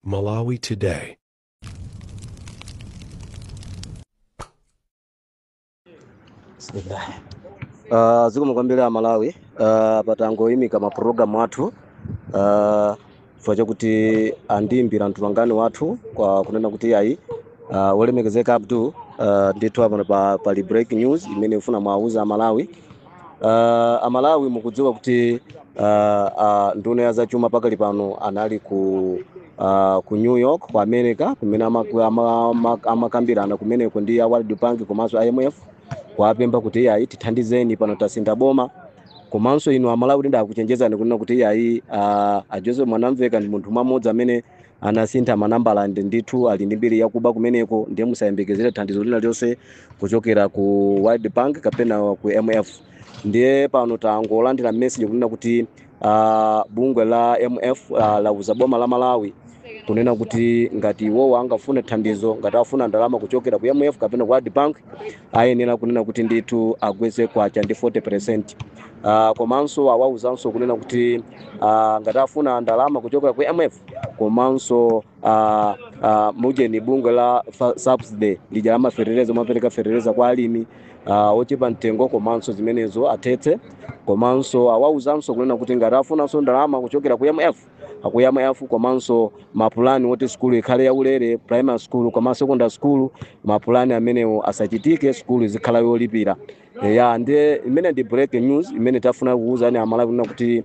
Malawi Today. Bismillah. Uh, zikomo kwambiri a Malawi uh, patangoyimika mapulogalamu athu uh, chifukwa chakuti andiimbira mtolankhani wathu kunena kuti ayi uh, wolemekezeka Abdul uh, ndithu apano pa, pali break news imene kufuna muwauza a Malawi Uh, amalawi mukudziwa kuti uh, uh, nduna ya zachuma pakali pano anali ku uh, ku new york ku america kumene amaku- ama- ama- amakambirana kumeneko ndi a world bank komanso imf kuwapempha kuti iyayi tithandizeni pano tasintha boma komanso inu amalawi kuti ndakuchenjezani kunena kuti iyayi uh, a joseph mwanamveka ndi munthu mmodzi amene anasintha manambala and ndithu ali ndi mbiri yakuba kumeneko ndiye musayembekezere thandizo lina lililonse kuchokera ku world bank kapena ku mf ndiye pano tangolandira message kunena kuti uh, bungwe la mf uh, lauza boma la malawi kunena kuti ngati iwowo angafune thandizo ngati afuna ndalama kuchokera ku mf kapena ku world bank ayenera kunena kuti ndithu agwetse kwacha ndi 40 percent uh, komanso awauzanso kunena kuti uh, ngati afuna ndalama kuchokera ku mf komanso uh, uh, mujeni bungwe la fa- subsidy lija lamafeteleza amapereka feteleza kwa alimi uh, ochepa mtengo komanso zimenezo athetse komanso awauzanso kunena kuti ngati afunanso ndalama kuchokera ku mf ku mf komanso mapulani woti sukulu ikhale yaulere primary school komanso secondary school mapulani amenewo asachitike sukulu izikhala yolipira ya ndiye imene ndi breaking news imene tafuna kuuzani amalawi kunena kuti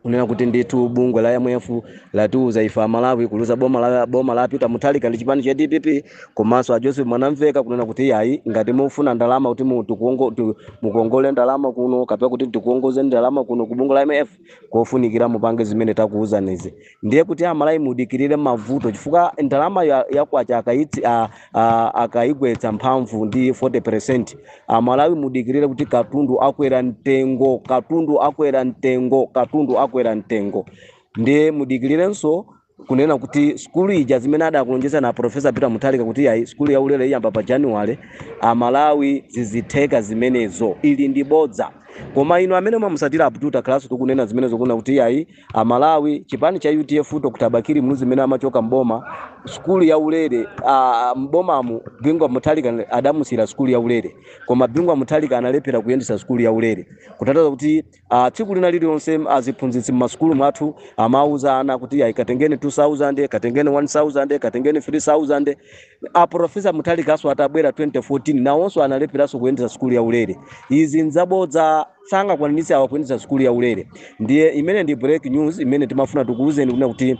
kunena kuti ndithu bungwe la mf latiuza ife amalawi kuliuza boma la, boma la peter mutharika ndi chipani cha dpp komanso a joseph mwanamveka kunena kuti yayi ngati mufuna ndalama kuti mu- tikuongo- tu- mukongole ndalama kuno kapena kuti tikukongoze ndalama kuno ku bungwe la mf kofunikira mupange zimene takuuzanizi ndiye kuti amalawi mudikirire mavuto chifukwa ndalama ya, ya kwacha akaitsi a, ah, akaigwetsa mphamvu ndi 40 percent amalawi mudikirire kuti katundu akwera mtengo katundu akwera mtengo katundu akwera mtengo ndiye mudikirirenso kunena kuti skulu ija zimene adakulonjezani profesa peter mutharika kuti ayi skulu ya ulere iyamba pa januwale amalawi sizitheka zimenezo ili ndi bodza koma inu amene mumatsatira abdul takhala tikunena zimenezo kunena kuti ayi amalawi chipani cha udf dr bakili muluzi mmene amachoka mboma sukulu ya ulere ah, mbomamu bingu wa mutharika adamusiyira sukulu ya ulere koma bingu wa mutharika analephera kuyendetsa sukulu ya ulere kutanthauza kuti ah, tsiku lina lililonse aziphunzitsi mmasukulu mwathu amauza ana kuti ayi katengeni 2000 katengeni 1000 katengeni 3000 aprofesa mutharikaso atabwera 2014 nawonso analepheraso kuyendetsa sukulu ya ulere izi nzabodza sangakwanitse awa kuyendetsa sukulu ya ulere ndiye imene ndi break news imene timafuna tikuwuzeni kunena kuti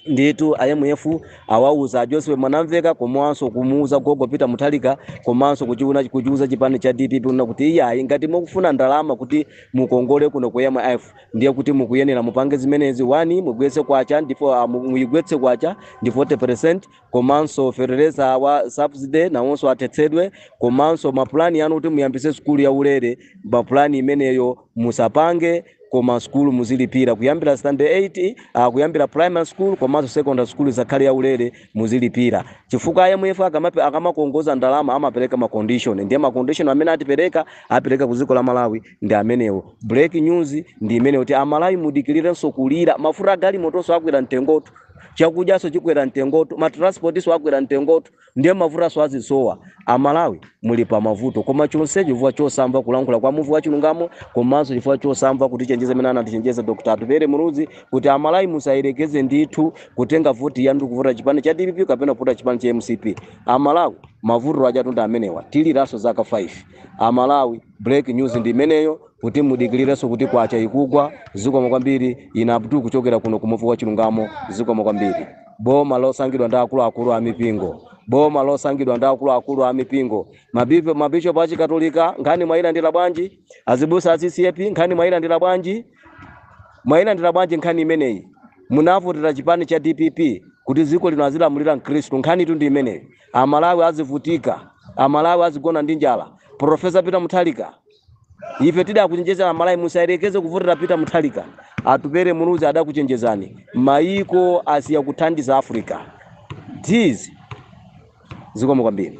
ndithu IMF awauza a Joseph Mwanamveka komanso kumuuza gogo Peter Mutharika komanso kuchiuna kuchiuza chipani cha DPP kunena kuti iyayi ngati mukufuna ndalama kuti mukongole kuno ku IMF ndiye kuti mukuyenera mupange zimenezi wani mugwetse kwacha ndipo ah, mu- muyigwetse kwacha ndi 40% komanso fertilizer wa subsidy nawonso athetsedwe komanso mapulani anu kuti muyambitse sukulu ya ulere mapulani imeneyo musapange koma sukulu muzilipira kuyambira standard 8 uh, kuyambira primary school komanso secondary school isakhale ya ulere muzilipira chifukwa IMF akamape akamakongoza ndalama amapereka ma condition ndiye ma condition amene atipereka apereka ku dziko la Malawi ndi amenewo break news ndi imeneyo kuti amalawi mudikirirenso kulira mafuta agalimotonso akwera mtengotu chakudyaso chikwera mtengotu matransportiso akwera mtengotu ndiye mafutaso azisowa amalawi muli pa mavuto koma chonse chifukwa chosamva kulankhula kwa Muvi wa chilungamo komanso chifukwa chosamva kutichenjeza mmene anatichenjeza dr Atupele Muluzi kuti amalawi musayerekeze ndithu kutenga voti yanu ndi kuvota chipani cha dpp kapena kuvota chipani cha mcp amalawi mavuto ajatu ndi amenewa tiliraso zaka 5 amalawi break news ndi imeneyo kuti mudikilirenso kuti kwacha ikugwa zikomo kwambiri ine Abdul kuchokera kuno ku Muvi wa chilungamo zikomo kwambiri boma losankhidwa ndi akuluakulu a mipingo boma losankhidwa ndi akuluakulu a mipingo Mabipo- mabishopu achikatolika nkhani mwayilandira bwanji azibusa a ccap nkhani mwayilandira bwanji mwayilandira bwanji nkhani imeneyi munavotera chipani cha dpp kuti dziko lino azilamulira mkhristu nkhanitu ndi imeneyi Amalawi azivutika, Amalawi azigona ndi njala, Professor Peter Mutharika ife tidakuchenjezani Amalawi musayerekeze kuvotera Peter Mutharika, Atupele Muluzi adakuchenjezani, maiko asiya kuthandiza Africa, guys zikomo kwambiri.